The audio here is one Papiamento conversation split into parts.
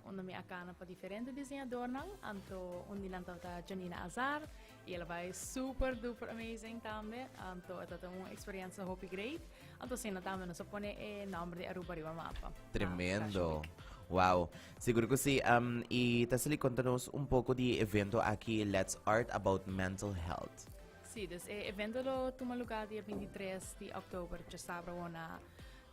Unda mi a cana pa diferente diseñadornan, anto un di nan tabata Janina Azar, y el a bay super duper amazing tambe, anto e tabata un experiencia hopi great, anto asina tambe nos a pone e nomber di Aruba riba mapa. Tremendo. Wow, seguro cu si. Um, y ta sali conta nos un poco di evento aki, Let's Art About Mental Health. Sí, dus e evento lo tuma lugar dia binti tres di oktober, djasabra awor na.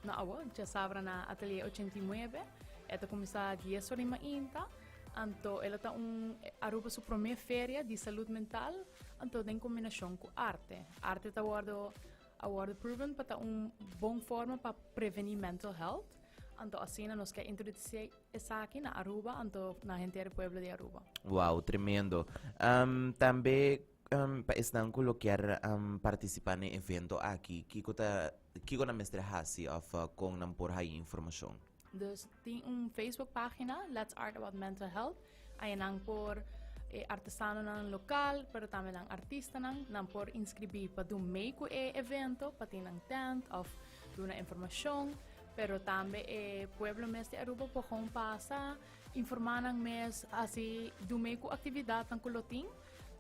Na awa, djasabra na Atelier ochenta i nuebe, e ta kuminsá dies ora di mainta, anto el a ta un, Aruba su promé feria di salud mental, anto den kombinashon ku arte. Arte ta wòrdu, a wòrdu proven pa ta un bon forma pa prevení mental health, anto asina nos ke introdusé esaki na Aruba, anto na henter pueblo di Aruba. Wou, tremendo. Tambe Pa esnan ku lo kier partisipá n'e evento aki, kiko nan mester hasi òf kon nan por haña informashon? Dus tin un Facebook página, Let's Art About Mental Health. Aye nan por, e artesanonan lokal, pero tambe nan artistanan, nan por inskribí pa dun mee ku e evento, pa tin nan tènt òf duna informashon. Pero tambe e pueblo mes di Aruba por kon pasa, informá nan mes, hasi dun mee ku aktividatnan ku lo tin.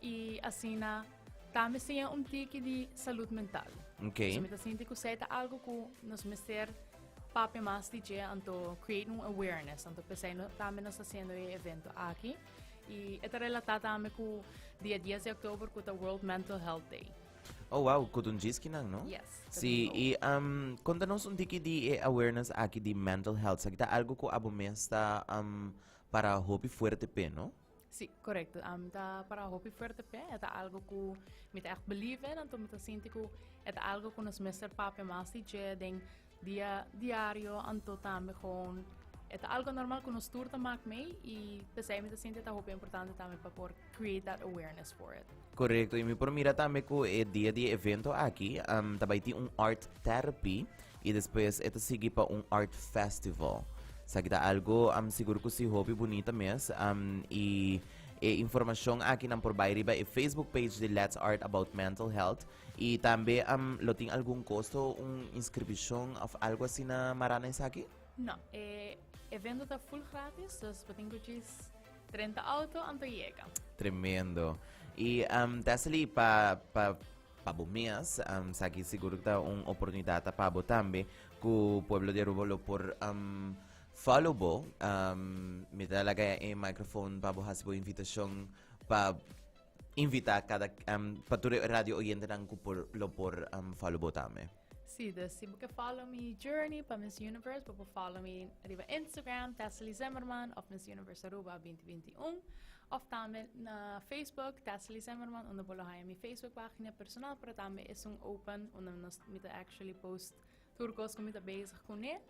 y asina tambe siña un tiki di salud mental. Okay. So mi ta sinti ku sei ta algo ku nos mester papia mas di dje anto create un awareness anto pesei no tambe nos haciendo e evento aki y eta relata tambe ku dia 10 de oktober ku ta World Mental Health Day. Oh wow, ku dun jiskinan, no? Yes. Si, y um, kontanos un tiki di e awareness aki di mental health. Sa kita algo ku abo mes ta um, para hopi fuerte pe, no? Sí, correcto. Um, ta para hopi fuerte pe. Het algo ku mi ta echt believe en anto mi ta sinti ku het algo ku nos mester pape mas di je den dia diario anto tambe gewoon het algo normal ku nos tur ta mak mee i pesai mi ta sinti ta hopi importante tambe pa por create that awareness for it. Correcto, y mi por mira tambe cu e dia di e evento aki um, ta bai tin un art therapy y despues e ta sigui pa un art festival. Sa kita algo um, seguro cu si hobby bonita mes um, y e informacion aki nan por bai riba e Facebook page di Let's Art About Mental Health y tambe um, lo tin algun costo, un inscription of algo asina marana esaki? No, e evento ta full gratis, dus patin kuchis Trenta auto anto yega. Tremendo. Y um, ta sali pa, pa, pa bo mes, um, saki seguro que ta un oportunidad ta pa bo tambe, cu pueblo de Aruba lo por um, follow bo. Um, me ta laga e microphone pa bo hasi bo invitacion pa invita cada um, pa tur radio oyente nan cu por, lo por um, follow bo tambe. Sí dus si bo ke follow mi journey pa Miss Universe bo por follow mi riba Instagram Tessely Zimmerman of Miss Universe Aruba binti binti un of tambe na Facebook Tessely Zimmerman unda bo lo haya mi Facebook pagina personal pero tambe esun open unda nos mi ta actually post tur kos ku mi ta bezig kuné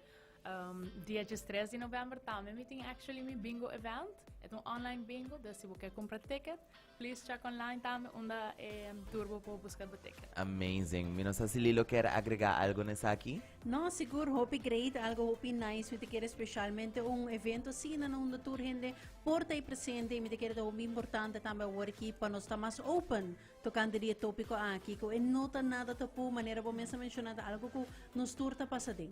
dia diestres di November tambe mi tin actually mi bingo event et un online bingo dus si bo ke kumpra ticket Please check online tambe unda e turbo por busca bo ticket. Amazing. Mi no sa si Lilo kier agrega algo na esaki. No, sigur hopi great, algo hopi nice mi ta kier especialmente un evento asina no unda tur hende por ta presente y mi ta kier ta hopi importante tambe awor aki pa nos ta mas open tocante di e topico aki cu e no ta nada tapu manera bo mes a menciona ta algo cu nos tur ta pasa aden.